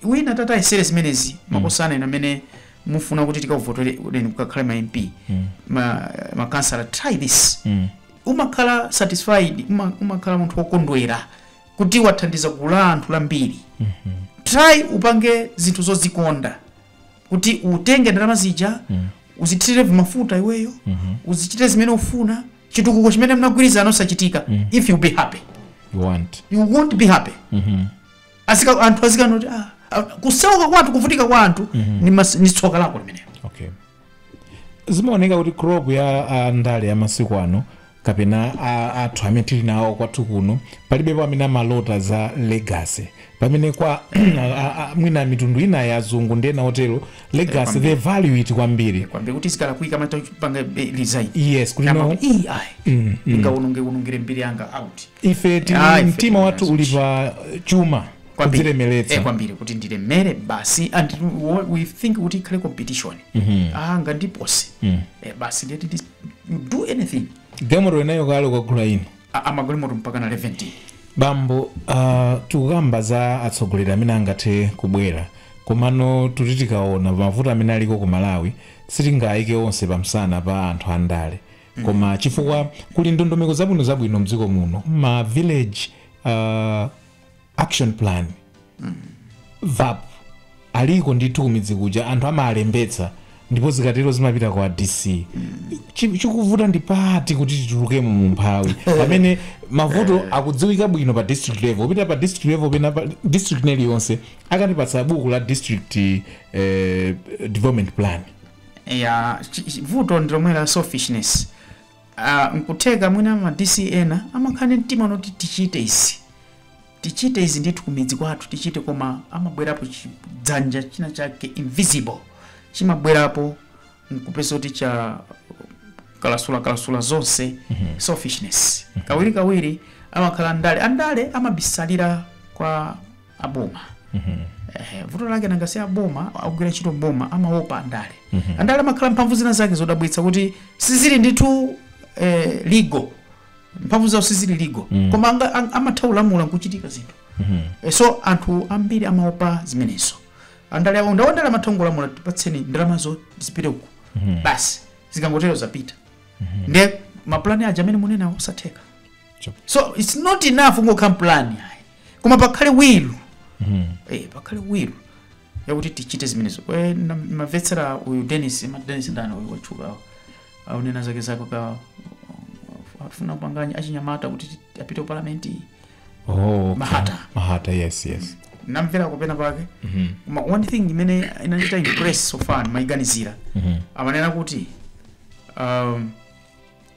wina tata ayesere zimenezi makhosana ena amene mufuna kuti tikavotore mukakhale ma mp ma, ma councillor try this Mm. umakhala satisfied uma, umakhala munthu wokondwera kuti wathandiza gulu la anthu lambiri try upange zinthu zozikonda kuti utenge ndalama zija uzithire mafuta iweyo uzichite zimene ufuna chitukuko chimene mnagwirizana osachitika if you be happy you want you won't be happy Azika, anthu azikamba kuti ah, ah, kusauka kwa anthu kuvutika kwa anthu ni, mas, ni tsoka lako limenelo okay zimaoneka kuti crop ya andale ya masiku ano kapena anthu amene tili nawo kwathu kuno palibepo amene amalota za legacy pamene kwa a- a- mwina mitundu ina ya azungu ndi ena otero legacy kwambiri. they value it kwambiri kwambiri kuti zikalakwika amatha kupanga eh, resign yes kuti no Amati, "Ii, ayi ndingawononge wonongere mbiri yanga out ife tili Ah, ife mtima tili wathu nazo. uli pa chuma Kwambiri. Eh, kudzilemeretsa kwambiri kuti ndilemere basi and wo- we think kuti ikhale competition ah ngandipose eh, basi ndiyeti ndi- you do anything Galimoto inayo kaya ukagula ino. A- amagalimoto mpaka na 17 bambo uh, tikukamba za atsogoleri amene angathe kubwera komano tuti tikaona pa mavuto amene aliko ku malawi sitingayike onse pamsana pa anthu andale koma chifukwa kuli ndondomeko zabwino zabwino mdziko muno ma village uh, action plan vap aliko ndithu kumidzi kuja anthu amalembetsa ndipo zikatero zimapita kwa dc Chi- chikuvuta ndi pati kuti titulukemo mu mphawi pamene mavuto akudziwika bwino pa district level kupita pa district level pena pa district neliyonse akutipatsa buku la district eh, development plan ya chi- chi- vuto ndi lomwe la selfishness Ah, nkutheka mwina ma DC ena amakhala ndi mtima unoti tichite izi tichite izi ndithu kumidzi kwathu tichite koma amabwerapo chidzanja china chake invisible chimabwerapo nkupeza kuti chakalasulakalasula zonse selfishness kawirikawiri amakhala andale andale amabisalira kwa aboma Ehe, vuto lake nangasi aboma akugwira ntchito m'boma amaopa andale andale amakhala mphamvu zina zake zodabwitsa kuti sizili ndithu eh, legal mphamvu zawo sizili legal koma anga- ang- amatha kulamula nkuchitika zinthu Eh, so anthu ambiri amaopa zimenezo andale awo ndawandale amatha kungolamula tipatseni ndalamazo zipite uku basi zikangotero zapita nde mapulani aja amene munenawo osatheka Chop. so it's not enough kungokhala ndi pulani ayi koma pakhale will eh, pakhale will yakuti tichite zimenezo Eh, na- mamvetsera uyu denis ma denis ndani uyu watchukawo aunena zake zake ka afuna kupanganya achinyamata kuti ti- apite ku palamenti oh, okay. Mahata. mahata yes yes namvera penapake Mhm. koma one thing imene inandichita impress so far maiganizira Mhm. amanena kuti um,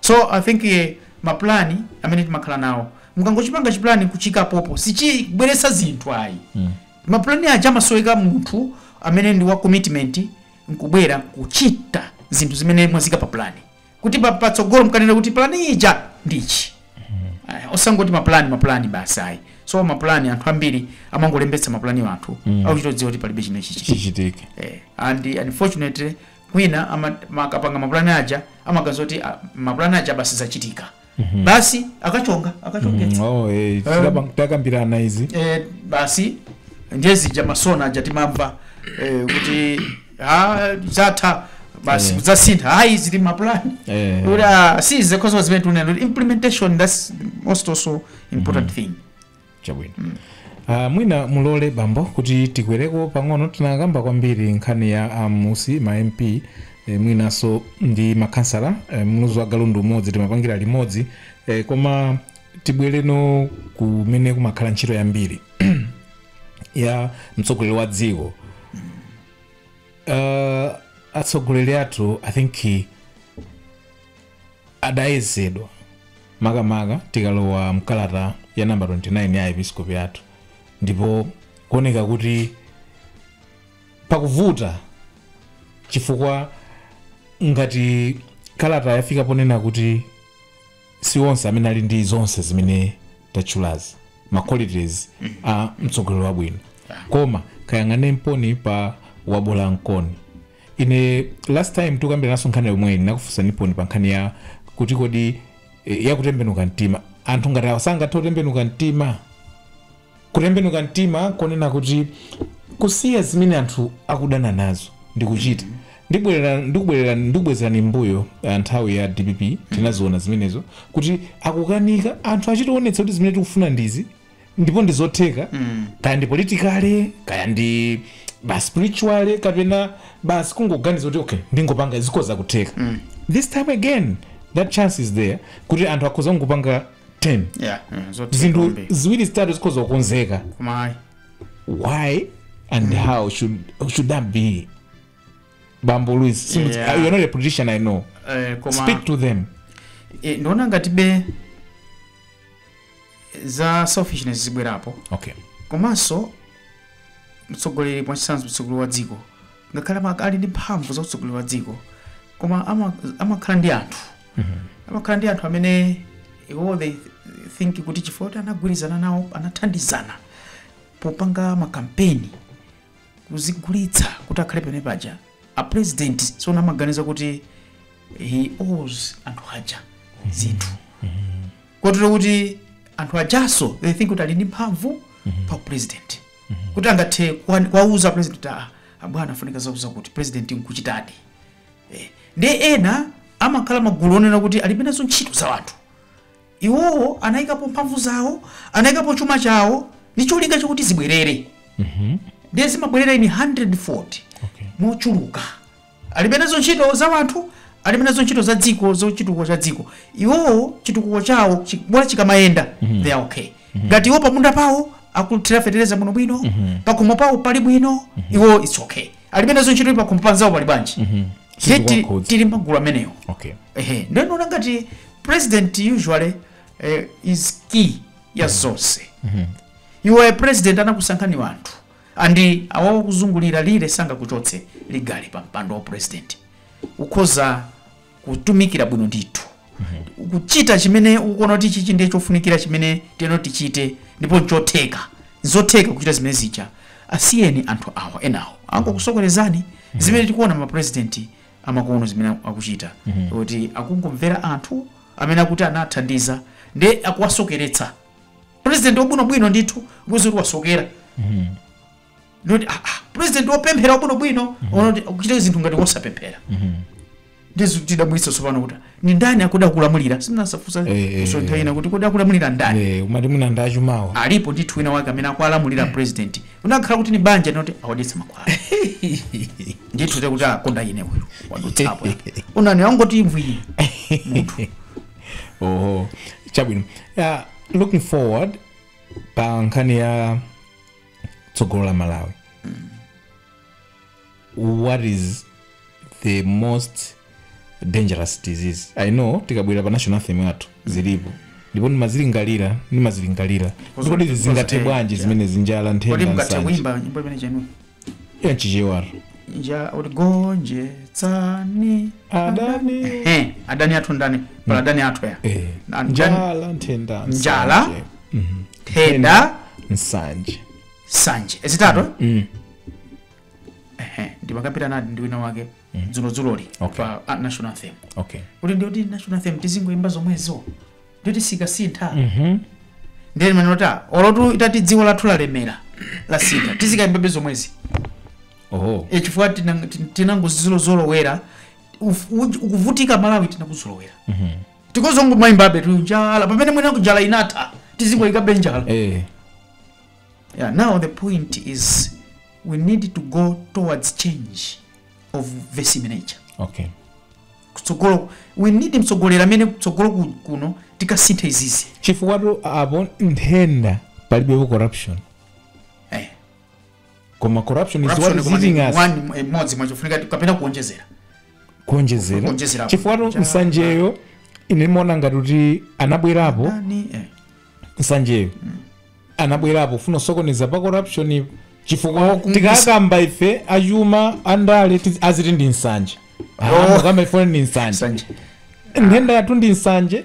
So I think eh, ma plan amene timakhala nawo mukangochipanga chipulani kuchiika pompo sichibweretsa zinthu ayi mapulani aja amasoweka munthu amene ndi wa commitment nkubwera kuchita zinthu zimene mwaziika pa pulani kuti pa- patsogolo mkanena kuti pulani ija ndichi Aya, osangoti mapulani mapulani basi ayi so mapulani anthu ambiri amangolembetsa mapulani athu akuchitodziwa kuti palibe chimene chiti chichitike eh, and unfortunately mwina ama- ma- akapanga mapulani aja amaganiza kuti ah, mapulani aja basi zachitika basi akachonga akachongetsa oh, eh, tidapang- takambirana izi eh, basi ndiye zija masiwona aja timamva eh, kuti ah, zatha basi Eh. zasintha ayi zidali mapulani Eh. kuti ah, si zikhozo zimene tunena implementation that's most also important thing chabwino uh, mwina mulole bambo kuti tikwereko pang'ono tinakamba kwambiri nkhani ya ammudzi ma mp eh, mwinanso ndi makhansala eh, mluzi wa galu ndi umodzi timapangira limodzi eh, koma tibwereno kumene kumakhala ntchito yambiri ya mtsogoleri wa dziko uh, atsogoleri athu i think adayezedwa, makamaka tikalowa mkalata ya namba 29 ya Aepiskopi athu, ndipo kuoneka kuti pakuvuta chifukwa ngati kalata yafika ponena kuti si onse amene ali ndi zonse zimene tatchulazi ma qualities a mtsogoleri wabwino koma kayang'ane mponi pa wabola nkoni ine last time tikukambiranaso nkhani yomwe ndinakufunsaniponso pa nkhani ya kuti kodi eh, ya kutembenuka mtima anthu ngati awa sangathe kutembenuka mtima kutembenuka mtima konena kuti kusiya zimene anthu akudana nazo ndikuchita ndibwerera- ndikubwerera- ndikubwezerani mbuyo ah, nthawi ya dpp tinaziona zimenezo kuti akukanika anthu achitowonetsa kuti zimene tikufuna ndizi ndipo ndi zotheka kaya ndi politikale kaya ndi ba spirituale kapena basi kungoganiza kuti okay ndingopanga zikhoza kutheka this time again that chance is there kuti anthu akhoza kungopanga 10 yeah mm, zotheka zinthu kwambiri. ziwiri zitatu zikhoza kukonzeka koma ayi why and how should, should that be bambo luis simu- Yeah. you're not a politician i know eh, koma speak to them eh, ndiona ngati be za selfishness zibwerapo okay komanso mtsogoleri mwachitsanzo mtsogoleri wa dziko ngakhale ama- ali ndi mphamvu za utsogoleri wa dziko koma ama- amakhala ndi anthu amakhala ndi anthu amene iwo they think kuti chifukwa kuti anagwirizana nawo anathandizana popanga makampeni kuzigulitsa kuti akhale pamene paja a president tsopano amaganiza kuti he owes anthu aja zinthu kotero kuti anthu ajaso they think kuti ali ndi mphamvu pa president kuti angathe kuwa- kuwauza president kuti "Ah, abwana afunika zakutizakuti president nkuchitadi Eh, ndiye ena amakhala magulu onena kuti alibe nazo ntchito za wanthu Iwowo anayikapo mphamvu zawo, anayikapo chuma chawo ndi cholinga chakuti zibwerere ndiye zimabwerera ini 100 fold Okay. mochuluka alibe nazo ntchito za wanthu alibe nazo ntchito za dziko za chitukuko cha dziko iwowo chitukuko chawo chi- bola chikamayenda they are okay ngati iwo pamunda pawo akuthira fetereza bwino bwino pakhomo pawo pali bwino iwo it's okay alibe nazo ntchito kuti pakhomo panzawo pali bwanji Ndiye tili- Sizikuwakhudza. tili magulu amenewo okay ehe ndiye ndiona ngati president usually eh, is key ya zonse iwe president anakusankha ndi wanthu and awa akuzungulirawa sangakuchotse legally pa mpando wa president ukhoza kutumikira bwino ndithu kuchita chimene ukuona kuti chichi ndiye chofunikira chimene tiyeni tichite ndipo nchotheka nzotheka kuchita zimene zija asiyeni anthu awa enawo angokusokeretsani zimene tikuona mapurezidenti amakono zimene akuchita kuti akungomvera anthu amene akuti anathandizana ndiye akuwasokeretsa purezidenti wabwinobwino ndithu kuzaona kuti wasokera not ah, ah, president wopemphera wabwinobwino woti n'kuchita zinthu ngati wosapemphera ndizo tidabwitsa tsopano kuti ndi ndani akuda akulamulira simunazifunse Eh, eh, kusonyeza ina kuti kodi akulamulira ndani Eh, umati mwina ndi achumawo alipo ndithu wina wake amene akulamulira president ikanakhala kuti ndi banja ndi oti awadyetsa mankhwala ndithu nde kuti akonda ine uyu wadutsapo unani angoti mvwini oho chabwino uh, looking forward pa nkhani ya tsogolo la malawi what is the most dangerous disease i know tikabwerera pa national anthem yathu zilipo ndipo ndimazilingalira ndimazilingalira kuti kodi izi zingathe eh, bwanji yeah. zimene zili njala kodi nthenda mukatha nsanje kuimba nyimbo imene chenu ya chichewa nja kuti gonjetsani adani Ehe, adani athu ndani pala adani athu ya eh, Nda- njala nthenda njala nsanje. nthenda nsanje nsanje zitatu eh? Ehe, ndimakambirana ndi wina wake dzulodzuloli Okay. pa ah, national anthem okay kuti ndioti national anthem tizingoimba zomwezo ndioti sizikasintha ndiye ndimaona kuti olo titati dziko lathu lalemera lasintha tizikaimbabe zomwezi oh e chifukwa tinang- tin- tinangozolozolowera Uf- uj- ukuvutika malawi tinakuzolowera tikuzangomayimbabe kuti njala pamene mwina njala inatha tizingoyikabe njala eh yeah, now the point is we need to go towards change of this nature okay kutsogolo we need mtsogoleri amene kutsogolo ku- kuno tikasinthe izizi chifukwa tu apo nthenda palibepo corruption eh. koma corruption is what Corruption is koma ndi eating us one mwa- imodzi mwa chofunika kapena kuonjezera kuonjezera Kuonjezera apo. chifukwa tu nsanjeyo ine ndimaona ngati kuti anabwerapo Nani, eh. nsanjeyo anabwerapo kufuna kusokoneza pa corruption chifukwa kumisa- tikakamba ife achuma andale tiz- aziti ndi nsanje Oh. tikakamba ife ndi nsanje Sanje. nthenda yathu ndi nsanje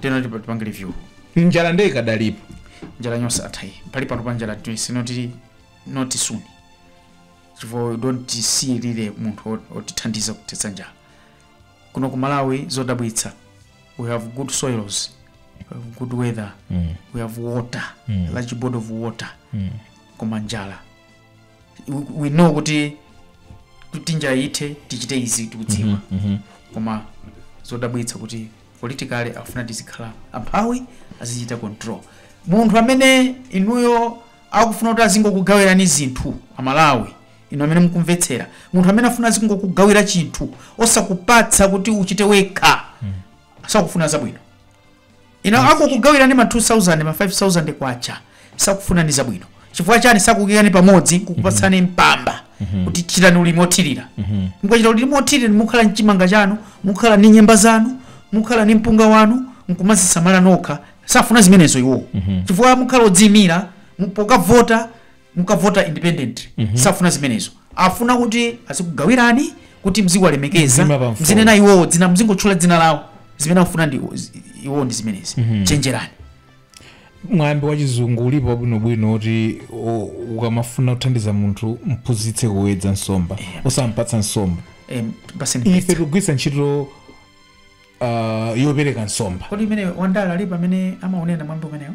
tena tipa- tipange review njala nde ikadalipo njala nonsense athayi pali pano pa njala tinene kuti not soon chifukwa we don't see really munthu ot- otithandiza kuthetsa njala kuno ku malawi zodabwitsa we have good soils we have good weather we have water large body of water koma njala we know kuti kuti njala ithe tichite izi tikudziwa koma zodabwitsa kuti politically akufuna tizikhala amphawi azichita control munthu amene inuyo akufuna kuti azingokugawirani zinthu amalawi inu amene mukumvetsera munthu amene afuna azingokugawira chinthu osakupatsa kuti uchite wekha sakufuna zabwino ino akukugawirani ma 2000 ma 5000 kwacha sakufuna ndi zabwino chifukwa chani sakukuikani pamodzi kukupatsani mpamba kuti chitani ulimi othirira mukachita ulimi othirira mukhala ndi chimanga chanu mukhala ndi nyemba zanu mukhala ndi mpunga wanu nkumazisamala nokha safuna zimenezo iwowo chifukwa mukhala odziyimira mu- pokavota mukavota independent safuna zimenezo afuna kuti azikugawirani kuti mziwalemekeza Mzima pa mfundo. mzinena iwowo dzina mzingotchula dzina lawo zimene akufuna iwo- iwowo ndi zimenezi chenjerani mwambi wa chizungu ulipo wabwinobwino kuti o- ukamafuna kuthandiza munthu mphunzitse kuwedza nsomba osampatsa nsomba Em, ife tikugwiritsa ntchito uh, yopereka nsomba kodi amene wandale alipo amene amaunena mwambi umenewo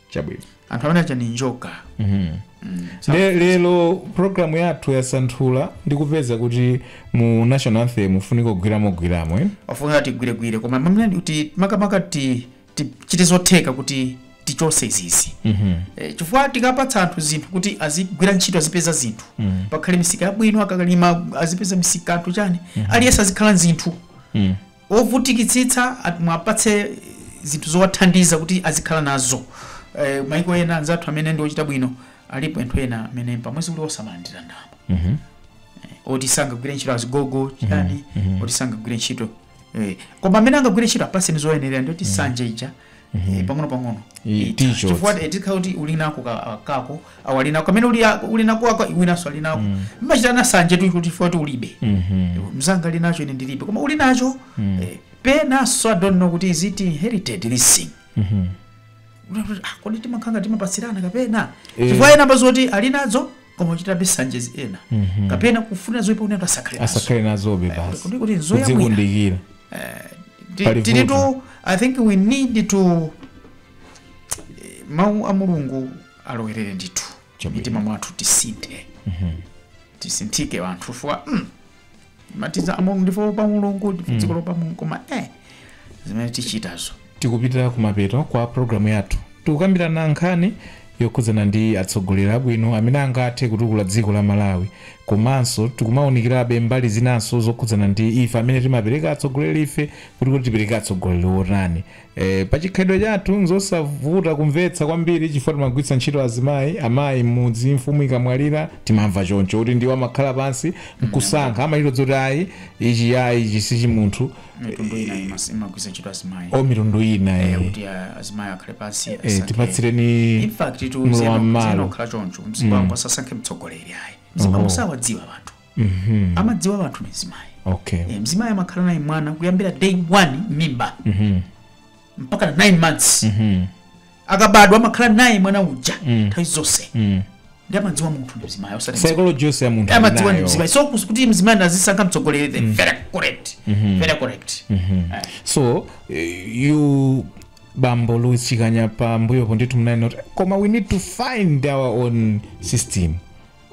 chabwino anthu amene aja ndi njoka Mhm. Mm. Le, lero programu yathu yasanthula ndi kupeza kuti mu national anthem mufunika kugwiramo gwiramo eh? ofunika tigwiregwire koma mwa mene ndi kuti makamaka ti- tichite zotheka kuti tichotse izizi Mhm. Eh, chifukwa tikapatsa anthu zinthu kuti azigwira ntchito azipeza zinthu Mm. pakhale misika yabwino akakalima azipeza misika anthu chani aliyense azikhala nzinthu Mm. ovutikitsitsa muwapatse zinthu zowathandiza kuti azikhala nazo eh, maiko ena anzathu amene ndi ochita bwino alipo anthu ena amene pamwezi kuli oti amalandira ndalama Mhm. oti sangagwire ntchito azigogo chani oti sangagwire ntchito eh, koma amene angagwire ntchito apatseni zoyenerera ndiye kuti sanje ija Eh, pang'ono pang'ono Eh, Eh, ticho. chifukwa eh, tikhala kuti uli nako ka- ah, kako awo ali nako kamene uli a- uli nako ako iwinanso ali nako mmachitirana nsanje tu kuti chifukwa kuti ulibe Mhm. mzanga ali nacho ine ndilibe koma uli nacho eh, penanso i don't know kuti is it inherited this thing Mhm. Kunena kuti, ah, kodi timakhanga timapatsirana kapena Eh. chifukwa ena ambazo kuti ali nazo koma ochitabe nsanjezi ena kapena kufunira zoipa kuti anthu asakhale nazo asakhale nazobe basi kuti- kuti nzoya bwino. kudzikundikira Ti- Pali tiri vuto. to i think we need to eh, mawu a mulungu alowerere ndithu Chabwino. mmitima mwathu tisinthe tisinthike anthu fuwa mm, timati za mulungu ndife oopa mulungu ndife dziko loopa mulungu koma eh zimene tichitazo tikupitira kumapeto kwa programu yathu tikukambirana nkhani yokhudzana ndi atsogoleri abwino amene angathe kutukula dziko la malawi komanso tikumawunikirabe mbali zinanso zokhudzana ndi ife amene timapereka atsogoleri ife kuti kuti tipereke atsogoleri otani E, pa chikhalidwe chathu nzosavuta kumvetsa kwambiri chifukwa timagwiritsa ntchito azimayi amayi m'mudzi mfumu ikamwalira timamva choncho kuti ndiwo amakhala pansi nkusankha amachita zoti ayi ichi ayi ichi sichi munthu mitundu ina imas- imagwiritsa ntchito azimayi o mitundu ina Eh, eh. kuti a- azimayi akhale pansi Eh, asankhe. tipatsireni in fact mlowa mmalo. tizingokhala choncho mzipani asasankhe mtsogoleri ayi mzipani Oho. sawadziwa anthu Mhm. amadziwa wanthu ndi mzimayi Okay. e, mzimayi amakhala naye mwana kuyambira day 1 mimba Mhm. mpaka 9 months Mhm. akabadwa amakhala naye mwana uja nthawi zonse Mm. nde amadziwa munthu ndi mzimayi osati Psychology yonse ya munthu amadziwa ndi ali nayo. mzimayi so kus- kuti mzimayi azisankha mtsogoleri the very correct very correct Eh. so eh, inu bambo louis chikanya pambuyopo ndithu munanena kuti koma we need to find our own system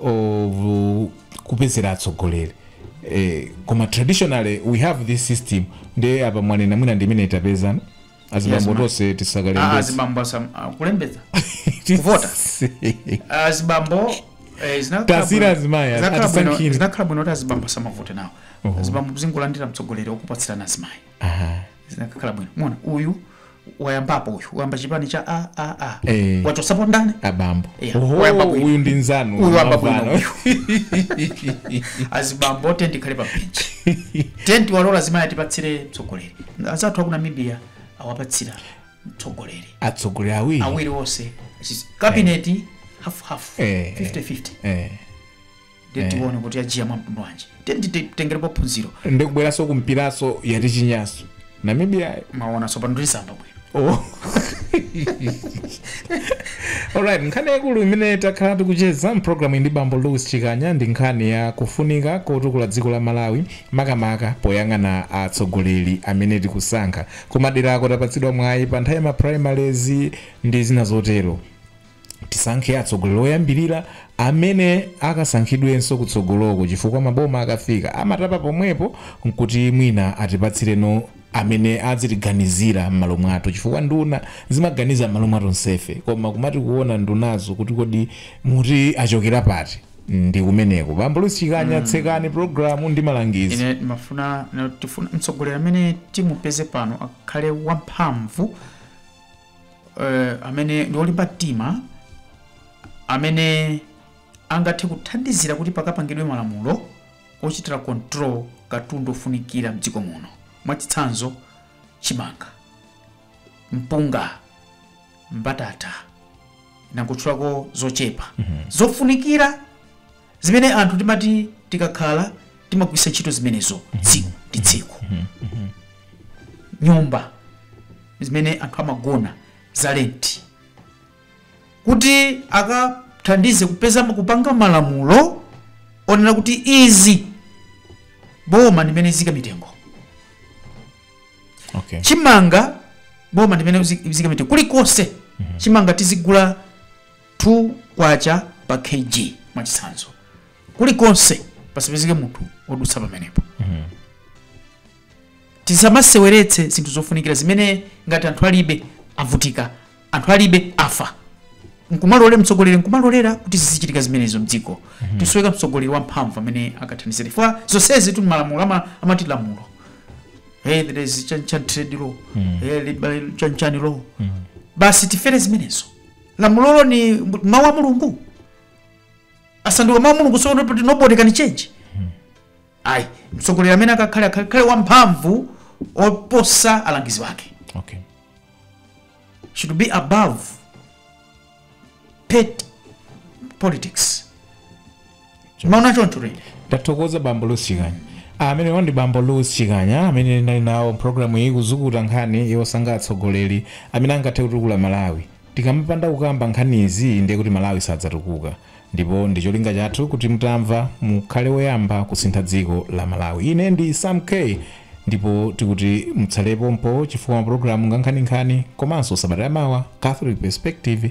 of uh, kupezera atsogoleri eh, koma traditionally we have this system nde apa mwanena mwina ndimene tapezani azibambo ma'am. tonse Ah, tisakalembetsa azibambo asam- ah, kulembetsa kuvota. azibambo eh, zinakhala Tasiira bwino- azimayi, zinakhala bwino- atisankhire. zinakhala bwino kuti azibambo asamavote nawo azibambo azingolandira mtsogoleri okupatsirani azimayi zinakhala bwino mona uyu wayambapo uyu wayamba chipani cha a a a Eh. wachotsapo ndani abambo Yeah. Oho, Wayamba bwino. uyu ndi nzanu Uyu wayamba bwino. Mavano. azibambo tenti ikhale pa benchi tenti walola azimayi atipatsire mtsogoleri anzathu aku namibia awapatsira mtsogoleri atsogoleri awiri awiri onse kabineti hafuhafu Eh. 5050 Eh. ndiye Eh. tione kuti agwira mwamtundu wanji tiye nditengerepo phunziro ndikubweranso kumpiranso yati chinyanso namibia mwaona tsopano ndisamba bwino Oh. alright nkhani yaikulu imene takhala tikucheza mpulogalamu ndi bambo louis chikanya ndi nkhani ya kufunika kotukula dziko la malawi makamaka poyang'ana atsogoleri amene tikusankha kumaderako tapatsidwa mwayi pa nthawi ya maprimaries ndi zina zotero tisankhe atsogoleri oyambirira amene akasankhidwenso kutsogoloko chifukwa maboma akafika amatapa pomwepo nkuti mwina atipatsire nduna amene azitiganizira m'malo mwathu chifukwa nduna zimaganiza m'malo mwa tonsefe koma kumati kuona ndunazo kuti kodi muti achokera pati ndi kumeneko bambo louis chikanya tsekani programu ndi malangizo ine ndimafuna tifuna mtsogoleri amene timupeze pano akhale wamphamvu eh, amene ndi olimba mtima amene angathe kuthandizira kuti pakapangidwe malamulo ochitira control katundu ofunikira mdziko muno mwachitsanzo chimanga mpunga mbatata ndangotchulako zochepa zofunikira zimene anthu timati tikakhala timagwiritsa ntchito zimenezo tsiku ndi tsiku nyumba zimene anthu amagona za lenti kuti akathandize kupeza kupanga malamulo onena kuti izi boma ndimene liziika mitengo okay chimanga boma ndimene lizi- liziika mitengo kulikonse chimanga tizigula K2 pa Kg mwachitsanzo kulikonse pasapezeke munthu odutsa pamenepo. Tisamaseweretse zinthu zofunikira zimene ngati anthu alibe avutika, anthu alibe afa. Nkumalolera mtsogoleri nkumalolera kuti zizichitika zimenezo mdziko. Tikusoweka mtsogoleri wamphamvu amene akathandizire. Chifukwa zonsezitu malamulo ama- amati lamulo. Hey, there is chan chan trade law. Hey, liberalization chan chan law. Basi tifere zimenezo. lamulolo ndi mbu- mawu a mulungu asanduka mawu a mulungu so kuti nobody can change ayi mtsogoleri amene akakhale akakhale wamphamvu oposa alangizi wake okay should be above petty politics mwaona choncho ili ndathokoza bambo chikanya amene a ndi bambo louis chikanya amene ndinali nawo mpulogalamu iyi kuzukuta nkhani yosankha atsogoleri amene angathe kutukula malawi tikamapanda kukamba nkhani izi ndiye kuti malawi sadzatukuka ndipo ndi cholinga chathu kuti mutamva mukhale woyamba kusintha dziko la malawi ine ndi sam k ndipo tikuti mutsale pompo chifukwa mapulogalamu ngankhaninkhani komanso sabata yamawa catholic perspective